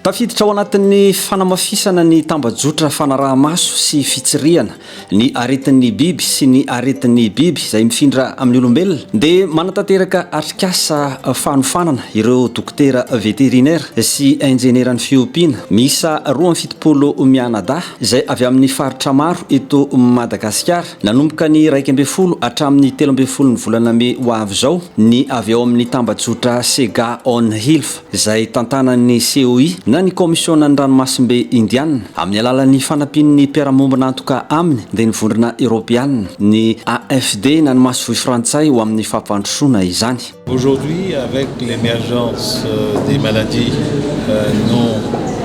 Tafiditra ao anatin'ny fanamafisana ny tambajotra fanaraha-maso sy fitsirihana Ny aretin'ny biby sy ny aretin'ny biby izay mifindra amin'ny olombelona dia manatanteraka atrikasa fanofanana ireo dokotera veterinera sy injenieran'ny fiompiana miisa roa amby fitopolo mianadahy izay avy amin'ny faritra maro eto Madagasikara nanomboka ny iraika ambin'ny folo hatramin'ny telo ambin'ny folon'ny volana mey ho avy izao ny avy ao amin'ny tambajotra Sega On Health. izay tantanan'ny COI na ny Kaomisionan'ny Ranomasimbe Indiana, amin'ny alalan'ny fanampian'ny mpiara-mombona antoka aminy, dia ny Vondrona Eoropeana, ny AFD na ny Masoivoho Frantsay ho amin'ny fampandrosoana izany. Aujourd'hui, avec l'emergence des maladies non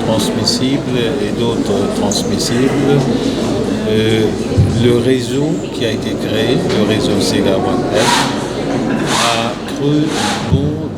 transmissibles et d'autres transmissibles, le réseau qui a été créé, le réseau Sega One Health, a cru beaucoup de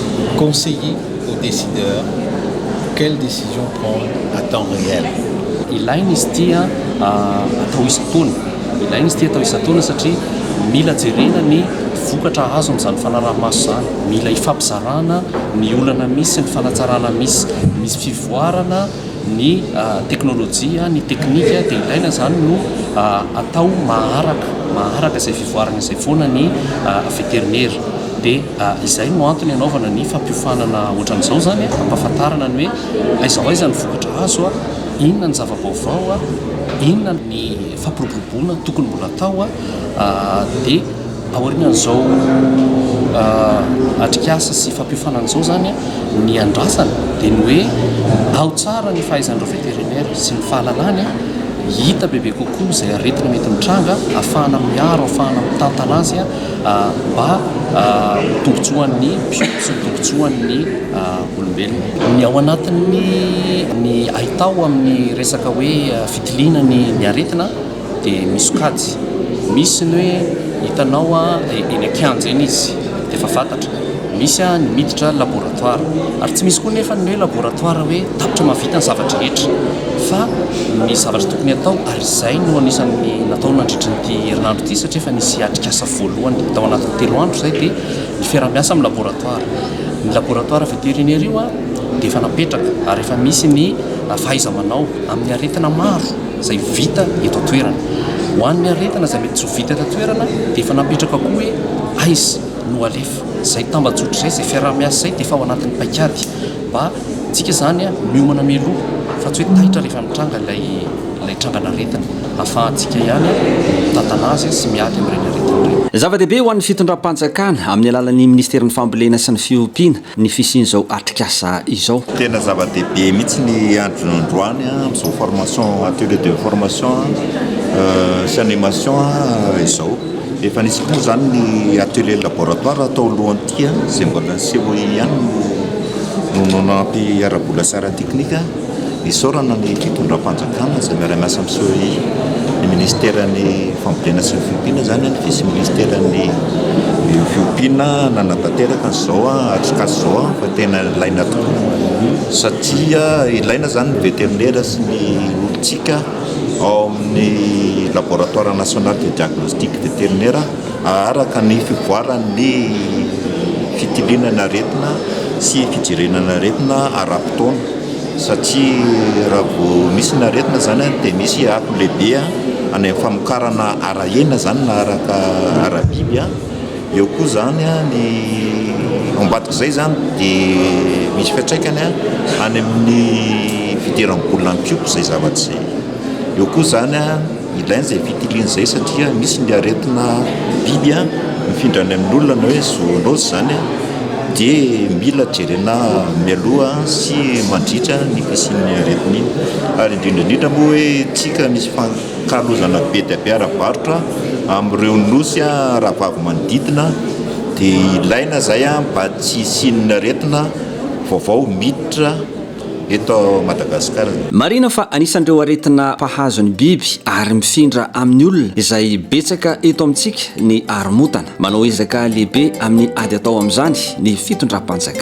Conseiller aux décideurs quelle décision prendre à temps réel. Ilaina izy ity atao isan-taona, ilaina izy ity atao isan-taona satria mila jerena ny vokatra azo amin'izany fanaraha-maso izany, mila ifampizarana ny olana misy sy ny fanatsarana misy, misy fivoarana ny teknolojia, ny teknika dia ilaina izany no atao maharaka, maharaka izay fivoarana izay foana ny veterinera dia. Izay no antony hanaovana ny fampiofanana ohatran'izao izany, hampahafantarana ny hoe aiza ho aiza ny vokatra azo, inona ny zava-baovao, inona ny fampiroboroboana tokony mbola hatao. Dia aorian'izao atrikasa sy fampiofanana izao izany, ny andrasana dia ny hoe ao tsara ny fahaizan'ireo vétérinaires sy ny fahalalany, hita bebe kokoa izay aretina mety mitranga, ahafahana miaro, ahafahana mitantana azy. Mba ho tombontsoan'ny mpiompy sy ho tombontsoan'ny olombelona. Ny ao anatin'ny ny ahitao amin'ny resaka hoe fitiliana ny ny aretina dia misy sokajy. Misy ny hoe hitanao eny an-kianja eny izy dia efa fantatra. Misy ny miditra laboratoara. Ary tsy misy koa anefa ny hoe laboratoara hoe tapitra mahavita ny zava-drehetra. Fa ny zavatra tokony atao ary izay no anisan'ny natao nandritry ny herinandro. Ity satria efa nisy atrikasa voalohany tao anatin'ny telo andro izay dia ny fiaraha-miasa amin'ny laboratoara. Ny laboratoara veterinaire io dia efa napetraka ary efa misy ny fahaiza-manao amin'ny aretina maro izay vita eto an-toerana. Ho an'ny aretina izay mety tsy ho vita eto an-toerana dia efa napetraka koa hoe aiza no alefa. Izay tambajotra izay, izay fiaraha-miasa izay dia efa ao anatin'ny paikady mba Tsika izany miomana mialoha fa tsy hoe taitra rehefa mitranga ilay ilay trangan'aretina. Afahantsika ihany mitantana azy sy miady amin'ireny aretina ireny. Zava-dehibe ho an'ny fitondram-panjakana, amin'ny alalan'ny Minisiterin'ny Fambolena sy ny Fiompiana, ny fisian'izao atrikasa izao. Tena zava-dehibe mihitsy ny andro androany amin'izao formation, atelier de formation sy animation izao. Efa nisy koa moa izany ny atelier laboratoire tao alohan'ny. Tia izay mbola niseho eo ihany no no nanampy ara-bola sy ara-teknika. Isaorana ny fitondram-panjakana izay miara-miasa amin'ny SOEI, ny minisiteran'ny fambolena sy ny fiompiana izany, ny vice minisiteran'ny fiompiana nanatanteraka an'izao hatrikasa izao fa tena ilaina tokoa satria ilaina izany ny veterinera sy ny olon-tsika ao amin'ny laboratoire national de diagnostic veterinera. Araka ny fivoaran'ny fitiliana ny aretina sy fijerena ny aretina ara-potoana satria raha vao misy ny aretina izany dia misy akony lehibe any amin'ny famokarana ara-hena izany na araka ara-biby a, eo koa izany a ny ao ambadik'izay izany dia misy fiantraikany any amin'ny fidiram-bolan'ny mpiompy izay zavatra izay, eo koa izany a. Ilaina izay fitiliana izay satria misy ny aretina biby mifindra any amin'olona na hoe zoonose izany dia mila jerena mialoha sy mandritra ny fisian'ny aretina iny. Ary indrindra indrindra moa hoe tsika misy fankalozana be dia be ara-barotra amin'ireo nosy rahavavy manodidina dia ilaina izay mba tsy hisian'ny aretina vaovao miditra. eto Madagasikara. Marihina fa anisan'ireo aretina mpahazo ny biby ary mifindra amin'ny olona izay betsaka eto amintsika ny haromontana. Manao ezaka lehibe amin'ny ady atao amin'izany ny fitondram-panjakana.